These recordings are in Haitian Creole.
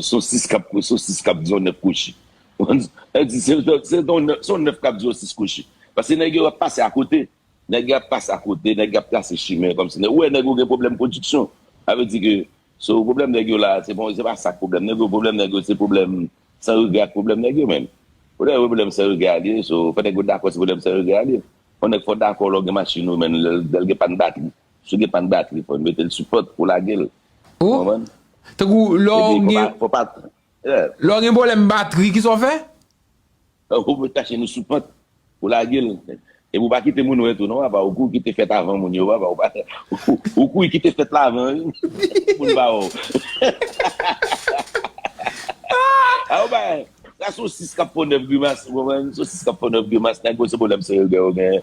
Sosis k ap kwe sosis k ap di yon nèf kwochi. Yo di se yon nèf k ap di yon sosis kwochi. Paske nèg yo ap pase akote. Nèg yo ap pase akote, nèg yo ap trase chimen kòmsi. Ou wè nèg yo gen pwoblèm pwodiksyon. Sa vle di ke se yon pwoblèm nèg yo la a. Se pa sa k pwoblèm nèg yo. Pwoblèm nèg yo se pwoblèm san regrè a k pwoblèm nèg yo menm. Ou wè se pwoblèm san regrè a li ye. Fòk nèg yo dakò se pwoblèm san regrè a li ye. Yon nèg fè w dakò lè w gen machin ou menn lè l gen pàn batri. Si w gen pàn batri fò w mete l sou pòt pou w lage l. Ou konprann? Tankou lè w gen. Epi fò w pa. Lè w gen pwoblèm batri ki sa w fè? Ou met machin ou sou pòt pou w lage l. Epi ou pa kite moun wè tou non apa. Ou kouri kite fèt avan moun yo apa. Ou kouri kite fèt la avan wi pou moun pa wè w. A ou bay. Sa sosis k ap fè w nèf grimas ou konprann. Sosis k ap fè w nèf grimas nèg yo se pwoblèm serye yo genyen.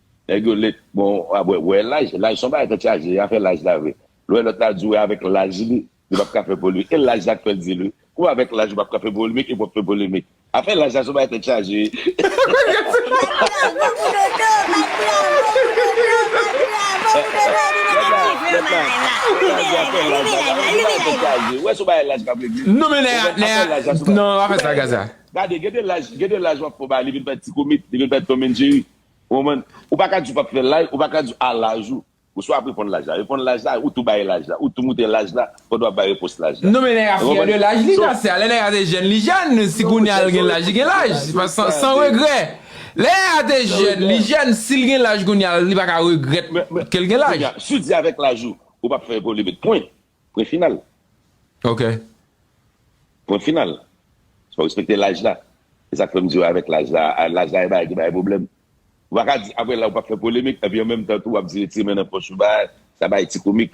Nèg yo let bon wap wè wè laj laj son bagay tèt chaje afè laj la vre lwè lòt la diw avèk laj li li pap ka fè polemik e laj la k fèl dil wi kouman avèk laj ou pap ka fè polemik epi wap fè polemik afè laj la son bagay tèt chaje gade gade laj wap fè ou bagay li vin fè ti komik li vin fè Tom and Jerry Ou man, ou pa ka di ou pap fè laj, ou pa ka di a laj ou, ou swa ap reponn laj la, reponn laj la, ou tou bay laj la, ou tou moute laj la pandan wap bay repons laj la. Non men nèg a fyè de laj li nan sa, lè nèg a te jèn li jèn, si kounya l gen laj li gen laj, se pa san san regrè. Lè nèg a te jèn li jèn, si l gen laj kounya li pa ka regrèt ke l gen laj. Kounya si w di avèk laj ou, ou pap fè polemik pwen, Pwen final. Ok. Pwen final. Se pa respekte laj la. Se sa k fè m di w avèk laj la, laj la gen bagay ki bay pwoblèm. Ou pa ka di apre la ou pa fè polemik epi an menm tan tou w ap di rete men nan pòch ou bagay, sa bay ti komik.